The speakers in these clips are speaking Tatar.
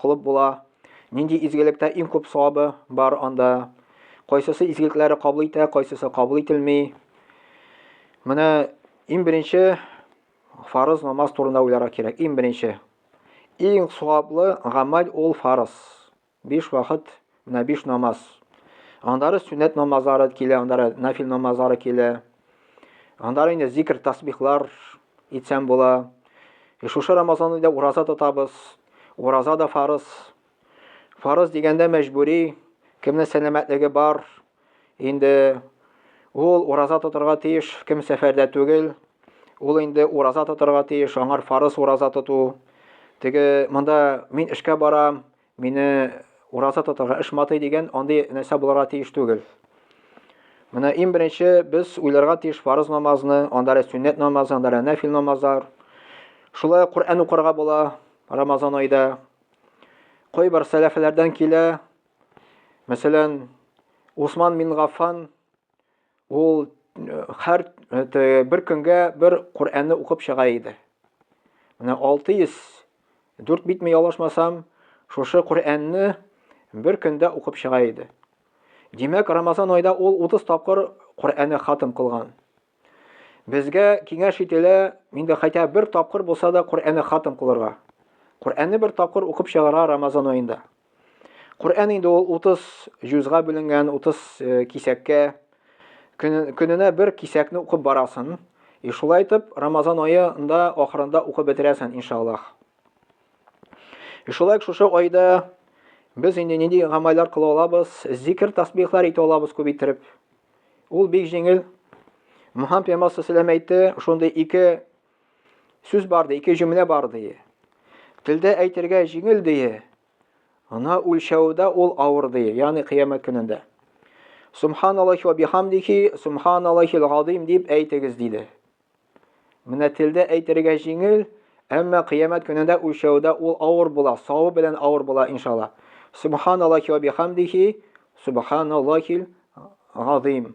кылып була? Нинди изгелектә иң күп савабы бар анда? Кайсысы изгелекләре кабул итә, кайсысы кабул ителми? Менә иң беренче фарыз намаз турында уйларга кирәк. Иң беренче. Иң саваплы гамәл ул фарыз. Биш вакыт Менә биш намаз. Аннары сүннәт намазлары килә, аннары нафил намазлары килә. Аннары инде зикр, тасбихлар итсәм була. Э, шушы Рамазанда да ураза тотабыз. Ураза да фарыз. Фарыз дигәндә мәҗбүри, кемнең сәламәтлеге бар, инде ул ураза тотарга тиеш, кем сәфәрдә түгел, ул инде ураза тотарга тиеш, аңар фарыз ураза тоту. Теге монда мин эшкә барам, Мине ураза тотарга, эш матый дигән андый нәрсә булырга тиеш түгел. Менә иң беренче без уйларга тиеш фарыз намазны, анда әле сүннәт намазы, анда әле нәфил намазлар. Шулай Коръән укырга була Рамазан айда. Кайбер сәләфләрдән килә, мәсәлән, Усман мин Гаффан Ул хәр бер көнгә бер Коръәнне укып чыга иде. Менә 604 битме ялгышмасам, шушы Коръәнне бер көндә укып чыга иде. Димәк, Рамазан айда ул 30 тапкыр Коръәнне хатым кылган. Безгә киңәш ителә, инде хәтта бер тапкыр булса да Коръәнне хатым кылырга. Коръәнне бер тапкыр укып чыгарга Рамазан айында. Коръән инде ул 30 җузга бүленгән, 30 э, кисәккә. Көненә бер кисәкне укып барасын. И шулай итеп, Рамазан аенда ахырында укып бетерәсен, иншаллах. И шулай шушы айда без инде нинди гамәлләр кыла алабыз? Зикр, тасбихлар итә алабыз күп иттереп. Ул бик җиңел. Мөхәммәд пәйгамбәр сәләм әйтте, шундый ике Сүз бар ди, ике җөмлә бар ди. Телдә әйтергә җиңел ди. Ана үлчәүдә ул авыр ди, ягъни кыямәт көнендә. Субханаллахи ва бихамдихи, субханаллахил газим дип әйтегез диде. Менә телдә әйтергә җиңел, әмма кыямәт көнендә үлчәүдә ул авыр була, савы белән авыр була иншалла. Субханаллахи ва бихамдихи, субханаллахил газим.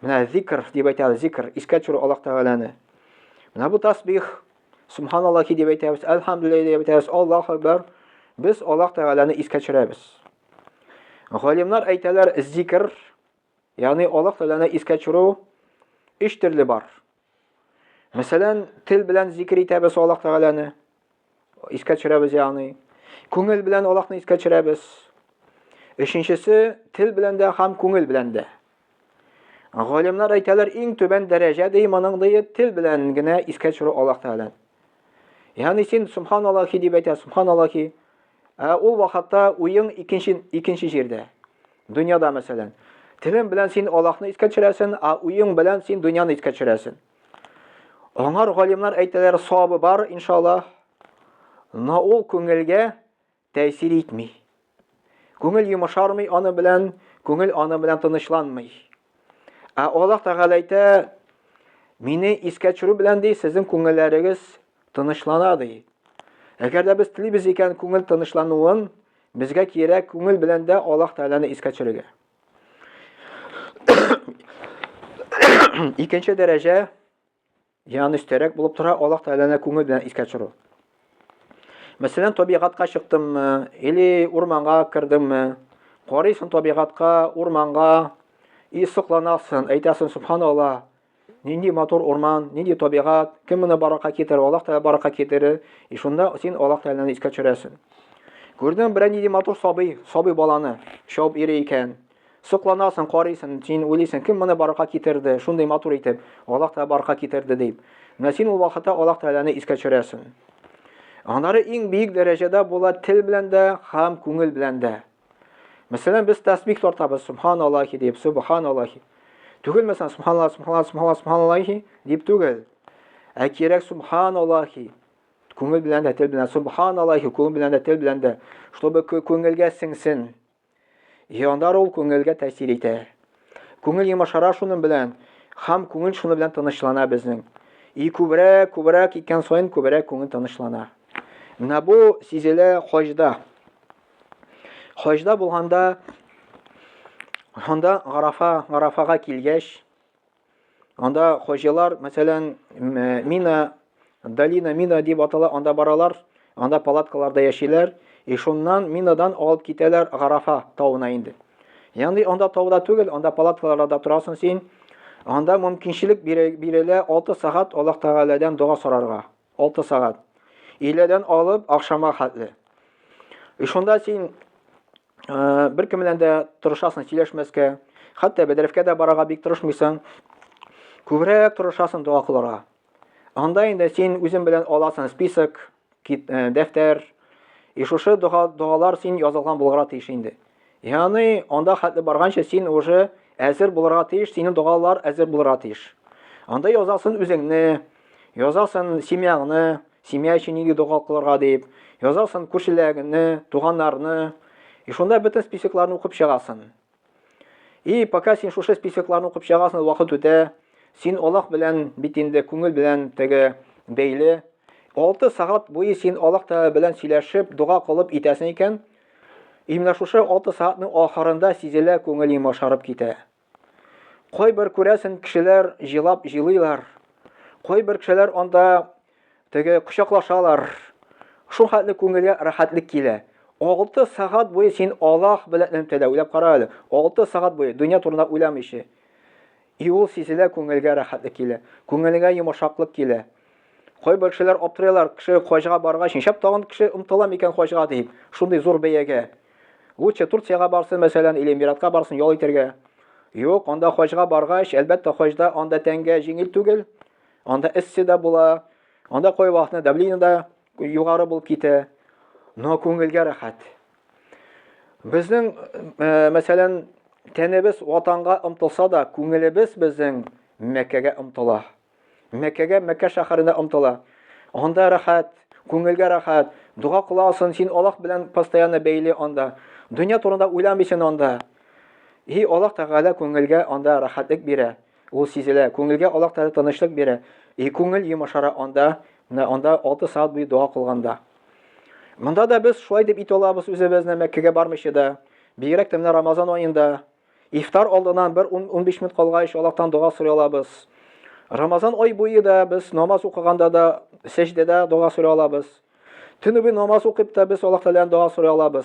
Менә зикр дип әйтәбез, зикр, искә төшерү Аллаһ Тәгаләне. Менә бу тасбих, субханаллахи дип әйтәбез, әлхәмдүлилләһи дип әйтәбез, Аллаһ акбар. Без Аллаһ Тәгаләне искә төшерәбез. Галимнар әйтәләр, зикр, ягъни Аллаһ Тәгаләне искә төшерү өч төрле бар. Мәсәлән, тел белән зикер итәбез Аллаһ Тәгаләне, искә төшерәбез ягъни. Күңел белән Аллаһны искә төшерәбез. Өченчесе, тел белән дә һәм күңел белән дә. Галимнар әйтәләр, иң түбән дәрәҗә ди моның ди тел белән генә искә төшерү Аллаһ Тәгаләне. Ягъни син субханаллахи дип әйтә, субханаллахи. Ә ул вакытта уең икенче икенче җирдә. Дөньяда мәсәлән. Телең белән син Аллаһны искә төшерәсең, а уең белән син дөньяны искә төшерәсең. Аңар галимнар әйтәләр, савабы бар, иншаллаһ. Но ул күңелгә тәэсир итми. Күңел йомышармый аны белән, күңел аны белән тынычланмый. Ә Аллаһ Тәгалә әйтә, Мине искә төшерү белән ди, сезнең күңелләрегез тынычлана ди. Әгәр дә без телибез икән күңел тынычлануын, безгә кирәк күңел белән дә Аллаһ Тәгаләне искә төшерергә. Икенче дәрәҗә Янан өстәрәк булып тора Аллаһ Тәгаләне күңел белән искә төшерү. Мәсәлән, табигатька чыктыммы, или урманга кердеңме, карыйсың табигатька, урманга, и сокланасың, әйтәсең, субханаллаһ, нинди матур урман, нинди табигат, кем моны баракка китерер, Аллаһ Тәгалә баракка китерер, и шунда син Аллаһ Тәгаләне искә төшерәсең. Күрдең берәр нинди матур сабый, сабый баланы, шауып йөри икән, Сокланасың, карыйсың, син уйлыйсың, кем моны барлыкка китерде, шундый матур итеп, Аллаһ Тәгалә барлыкка китерде дип. Менә син ул вакытта Аллаһ Тәгаләне искә төшерәсең. Аннары иң биек дәрәҗәдә була тел белән дә һәм күңел белән дә. Мәсәлән, без тәсбих тартабыз, субханаллахи дип, субханаллахи. Түгел мәсәлән, субханаллах, субханаллах, субханаллах, субханаллахи дип түгел. Ә кирәк субханаллахи. Күңел белән дә, тел белән, субханаллахи, күңел белән дә, тел белән дә, чтобы күңелгә сеңсен. Җандар ул күңелгә тәэсир итә. Күңел йомашара шуның белән, хам күңел шуны белән тынычлана безнең. И күбрәк, күбрәк икән саен күбрәк күңел тынычлана. Менә бу сизелә хаҗда. Хаҗда булганда анда Гарафа, Гарафага килгәч, Анда хоҗалар, мәсәлән, Мина, Долина Мина дип атала, анда баралар, анда палаткаларда яшиләр, и шуннан Минадан алып китәләр Гарафа тавына инде. Янди анда тауда түгел, анда палаткаларда торасың син. Анда мөмкинчелек бирелә 6 сәгать Аллаһ Тәгаләдән дога сорарга. 6 сәгать. Иледән алып ахшама хәтле. И шунда син э, бер кем белән дә тырышасың сөйләшмәскә, хәтта бәдрәфкә дә барага бик тырышмыйсың. Күбрәк тырышасың дога кылырга. Анда инде син үзең белән аласың список, э, дәфтәр. И шушы дога догалар син язылган булырга тиеш инде. Яны анда хәтле барганча син уже әзер булырга тиеш, синең догалар әзер булырга тиеш. Анда язасын үзеңне, язасын семьяңны, семья өчен нинди дога кылырга дип, язасын күршеләреңне, туганнарны. И шунда бөтен списокларны укып чыгасын. И пока син шушы списокларны укып чыгасын, вакыт үтә, син Аллах белән бит инде күңел белән теге бәйле. 6 сагат буе син Аллах Тәгалә белән сөйләшеп, дога кылып итәсең икән, И менә шушы алты сәгатьнең ахырында сизелә күңел йомашарып китә. Кайбер күрәсен кешеләр җылап җылыйлар. Кайбер кешеләр анда теге кочаклашалар. Шул хәтле күңелгә рәхәтлек килә. Алты сәгать буе син Аллаһ белән теләүләп кара әле. Алты сәгать буе дөнья турында уйламыйча. И ул сизелә күңелгә рәхәтлек килә, күңелеңә йомышаклык килә. Кайбер кешеләр аптырыйлар, кеше хаҗга баргач, нишләп тагын кеше омтыла микән хаҗга дип, шундый зур бәягә. Лучше Турциягә барсын, мәсәлән, или Эмиратка барсын ял итәргә. Юк, анда хаҗга баргач, әлбәттә, хаҗда анда тәнгә җиңел түгел, анда эссе дә була, анда кайвакытны давление да югары булып китә. Но күңелгә рәхәт. Безнең, э, мәсәлән, тәнебез ватанга омтылса да, күңелебез безнең Мәккәгә омтыла. Мәккәгә, Мәккә шәһәренә омтыла. Анда рәхәт, күңелгә рәхәт. Дога кыласың, син Аллаһ белән постоянно бәйле анда. Дөнья турында уйламыйсың анда. И Аллаһ Тәгалә күңелгә анда рәхәтлек бирә. Ул сизелә, күңелгә Аллаһ Тәгалә тынычлык бирә, и күңел йомашара анда, менә анда 6 сәгать буе дога кылганда. Монда да без шулай дип ит алабыз үзебезне Мәккәгә бармыйча да. Бигрәк тә менә Рамазан аенда ифтар алдыннан бер 10-15 минут калгач Аллаһтан дога сорый алабыз. Рамазан ай буе да без намаз укыганда да сәҗдәдә дога сорый алабыз. Төнүге намаз укып та без Аллаһ Тәгаләдән дога сорый алабыз.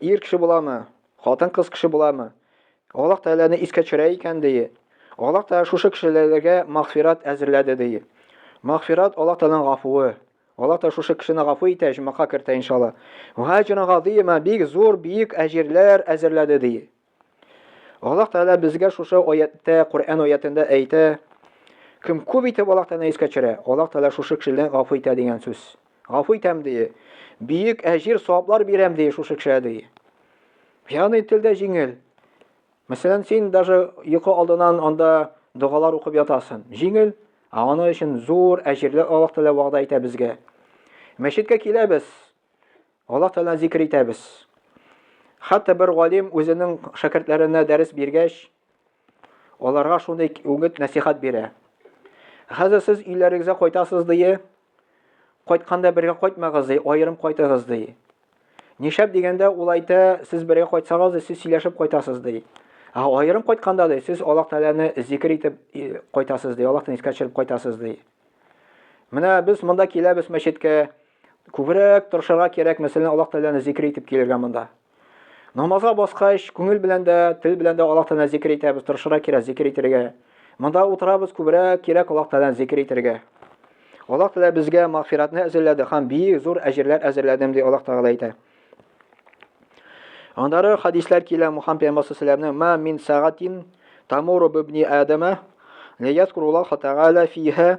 Ир кеше буламы? Хатын-кыз кеше буламы? Аллаһ Тәгаләне искә төшерә икән, ди. Аллаһ Тәгалә шушы кешеләргә мәгъфират әзерләде, ди. Мәгъфират Аллаһ Тәгаләнең гафуы. Аллаһ Тәгалә шушы кешене гафу итә, җәннәткә кертә, иншалла. Ваҗран газыйма, бик зур, биек әҗирләр әзерләде, ди. Аллаһ Тәгалә безгә шушы аятта, Коръән аятында әйтә, кем күп итеп Аллаһ Тәгаләне искә төшерә, Аллаһ Тәгалә шушы кешедән гафу итә дигән сүз. Гафу итәм ди. Бөек әҗир, саваплар бирәм ди шушы кешегә ди. Ягъни телдә җиңел. Мәсәлән, син даже йокы алдынан анда догалар укып ятасың. Җиңел, а аны өчен зур әҗирле Аллаһ Тәгалә вәгъдә итә безгә. Мәчеткә киләбез. Аллаһ Тәгаләне зикр итәбез. Хәтта бер галим үзенең шәкертләренә дәрес биргәч, аларга шундый үгет нәсихат бирә. Хәзер сез өйләрегезгә кайтасыз дие, кайтканда бергә кайтмагыз ди, аерым кайтыгыз ди. Нишәп дигәндә ул әйтә, сез бергә кайтсагыз да сез сөйләшеп кайтасыз ди. Ә аерым кайтканда да сез Аллаһ Тәгаләне зикр итеп кайтасыз ди, Аллаһны искә төшереп кайтасыз ди. Менә без монда киләбез мәчеткә, Күбрәк тырышырга кирәк, мәсәлән, Аллаһ Тәгаләне зикер итеп килергә монда. Намазга баскач, күңел белән дә, тел белән дә Аллаһ Тәгаләне зикер итәбез, тырышырга кирәк зикер итәргә. Монда утырабыз, күбрәк кирәк Аллаһ Тәгаләне зикер итәргә. Аллаһ Тәгалә безгә мәгъфиратны әзерләде һәм бик зур әҗерләр әзерләдем ди Аллаһ Тәгалә әйтә. Андары хадислар килә Мухаммад пәйгамбәр саллаллаху ма мин сагатин тамуру бибни адама лиязкуруллаһ тәгалә фиһа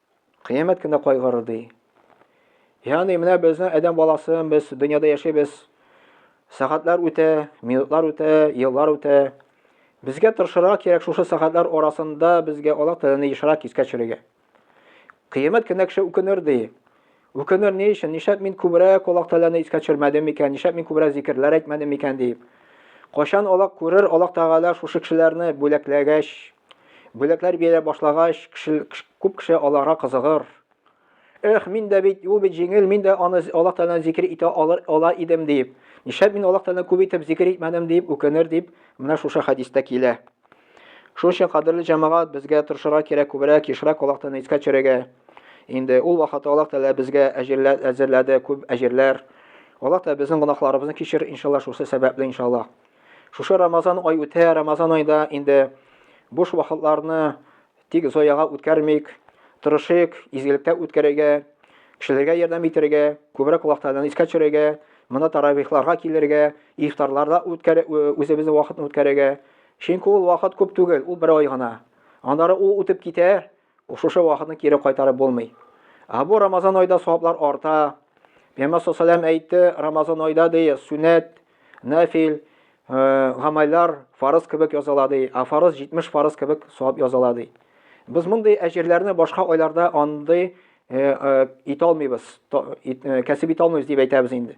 Кыямәт кенә кайгырыр ди. Ягъни менә безнең адәм баласы, без дөньяда яшибез. Сәгатьләр үтә, минутлар үтә, еллар үтә. Безгә тырышырга кирәк шушы сәгатьләр арасында безгә Аллаһ Тәгаләне ешрак искә төшерергә. Кыямәт кенә кеше үкенер ди. Үкенер ни өчен? Нишләп мин күбрәк Аллаһ Тәгаләне искә төшермәдем микән? Нишләп мин күбрәк зикерләр әйтмәдем микән дип. Кайчан Аллаһ күрер, Аллаһ Тәгалә шушы кешеләрне бүләкләгәч, Бүләкләр бирә башлагач, кеше, күп кеше аларга кызыгыр. Эх, мин дә бит, ул бит җиңел, мин дә аны Аллаһ Тәгаләне зикер итә алыр, ала идем дип. Нишләп мин Аллаһ Тәгаләне күп итеп зикер итмәдем дип үкенер дип, менә шушы хәдистә килә. Шуның өчен, кадерле җәмәгать, безгә тырышырга кирәк күбрәк, ешрак Аллаһ Тәгаләне искә төшерергә. Инде ул вакытта Аллаһ Тәгалә безгә әҗерләр әзерләде, күп әҗерләр. Аллаһ Тәгалә безнең гөнаһларыбызны кичер, иншаллаһ, шусы сәбәпле, иншаллаһ. Шушы Рамазан ай үтә, Рамазан айда инде буш вакытларны тик зояга үткәрмик, тырышыйк, изгелектә үткәрергә, кешеләргә ярдәм итәргә, күбрәк вакытларны искә төшерергә, монда таравихларга килергә, ифтарларда үткәр үзебезнең вакытны үткәрергә. Чөнки ул вакыт күп түгел, ул бер ай гына. Аннары ул үтеп китә, Шушы вакытны кире кайтарып булмый. Ә бу Рамазан айда саваплар арта. Пәйгамбер саллаллаху әйтте, Рамазан айда ди, сүнәт, нафил, э, гамәлләр фарыз кебек языла ди, а фарыз 70 фарыз кебек савап языла ди. Без мондый әҗерләрне башка айларда андый э, э, итә алмыйбыз, кәсеп итә алмыйбыз дип әйтәбез инде.